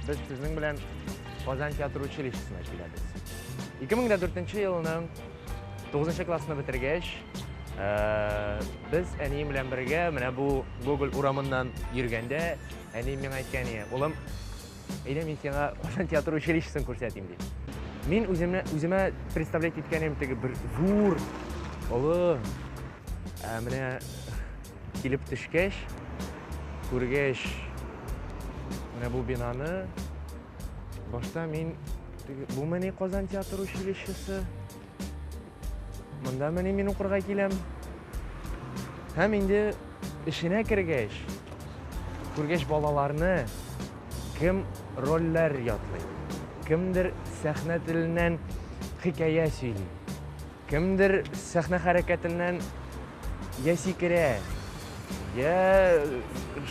Без сезнең белән Казан театр училищесына киләбез. 2004 елның 9 классны бетергәч, э, без әнием белән бергә менә бу Гоголь урамыннан йөргәндә, әнием миңа әйткән ие, улым, Әйдә мин сиңа Казан театр училищесын күрсәтим ди. Мин үземә үземә представлять иткәнем теге бер зур, олы. Ә менә килеп төшкәч, күргәч, менә бу бинаны башта мин бу мени Казан театр училищесы Монда мени мин укырга киләм. Һәм инде эшенә кергәч, күргәч балаларны кем рольләр ятлый, кемдер сәхнә теленнән хикәя сөйли, кемдер сәхнә хәрәкәтеннән я сикерә, я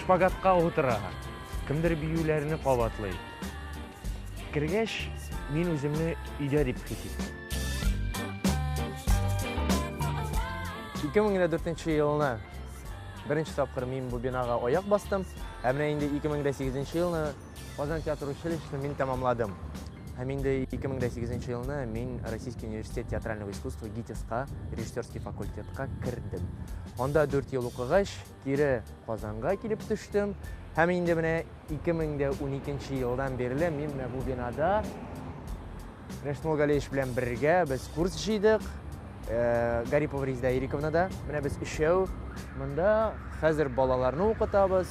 шпагатка утыра, кемдер биюләрне кабатлый. Кергәч, мин үземне өйдә дип хис иттем. 2004 елына беренче тапкыр мин бу бинага аяк бастым, ә менә инде 2008 елны Казан театр училищесын мин тәмамладым. Һәм инде 2008 елны мин Российский университет театрального искусства ГИТИСка, режиссерский факультетка кердем. Анда 4 ел укыгач, Кире Казанга килеп төштем. Һәм инде менә 2012 елдан бирле мин менә бу бинада Рәшмул Галеевич белән бергә без курс җыйдык. Э, Гарипова Резда Ириковнада. Менә без өчәү монда хәзер балаларны укытабыз.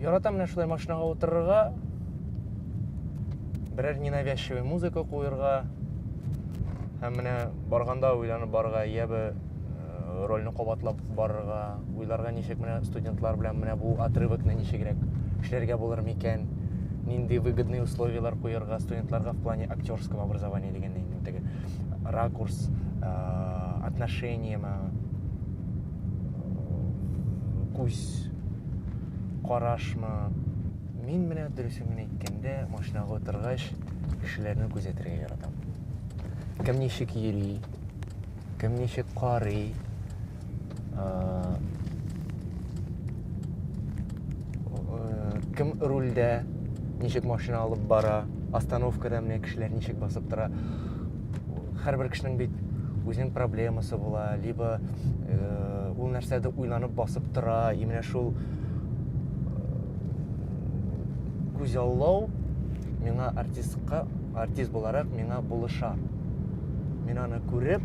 Яратам менә шулай машинага утырырга, берәр ненавязчивый музыка куерга һәм менә барганда уйланып барырга, я бы э, рольне кабатлап барырга, уйларга ничек менә студентлар белән менә бу отрывокны ничегрәк эшләргә булыр микән, нинди выгодный условиялар куерга студентларга в плане актерского образования дигәндә инде теге. ракурс э, отношение ма э, күз карашмы мин менә дөресен генә әйткәндә машинага утыргач кешеләрне күзәтергә яратам кем ничек йөри кем ничек карый кем рульдә ничек машина алып бара остановкада менә кешеләр ничек басып тора һәрбер кешенең бит үзенең проблемасы була либо э, ул нәрсәдә уйланып басып тора и менә шул күзаллау миңа артистка артист буларак миңа булыша мин аны күреп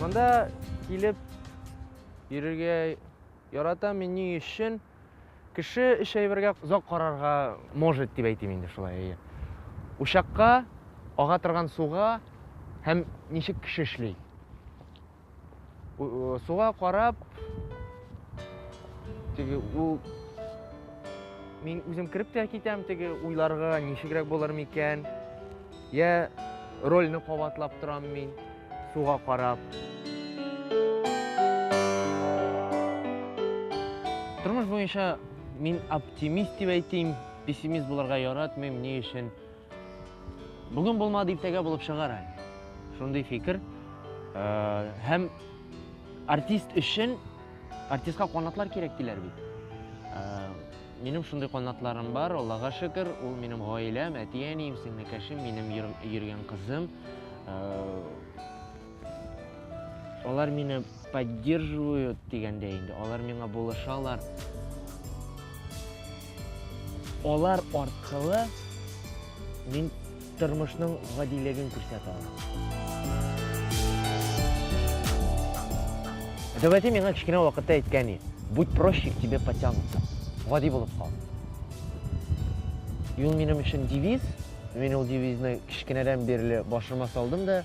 Монда килеп йөрергә ярата мин ни өчен? Кеше өч әйбергә озак карарга может дип әйтим инде шулай әйе. Учакка, ага торган суга һәм ничек кеше эшли. Суга карап, теге ул мин үзем кереп тә китәм теге уйларга, ничегрәк булыр микән? Я рольне кабатлап торам мин суга карап. Тормыш буенча мин оптимист дип әйтим, пессимист булырга яратмыйм, ни өчен? Бүген булмады, иртәгә булып чыгар әле. Шундый фикер. Һәм артист өчен артистка канатлар кирәк диләр бит. Минем шундый канатларым бар, Аллага шөкер, ул минем гаиләм, әти-әнием, сеңлекәшем, минем йөргән кызым. Алар мине поддерживают дигәндә инде, алар миңа булышалар. Алар аркылы мин тормышның гадилеген күрсәтә алам. Дәүәти миңа кечкенә вакытта әйткән иде, будь проще, к тебе потянутся. Гади булып кал. И ул минем өчен девиз. Мин ул девизны кечкенәдән бирле башыма салдым да,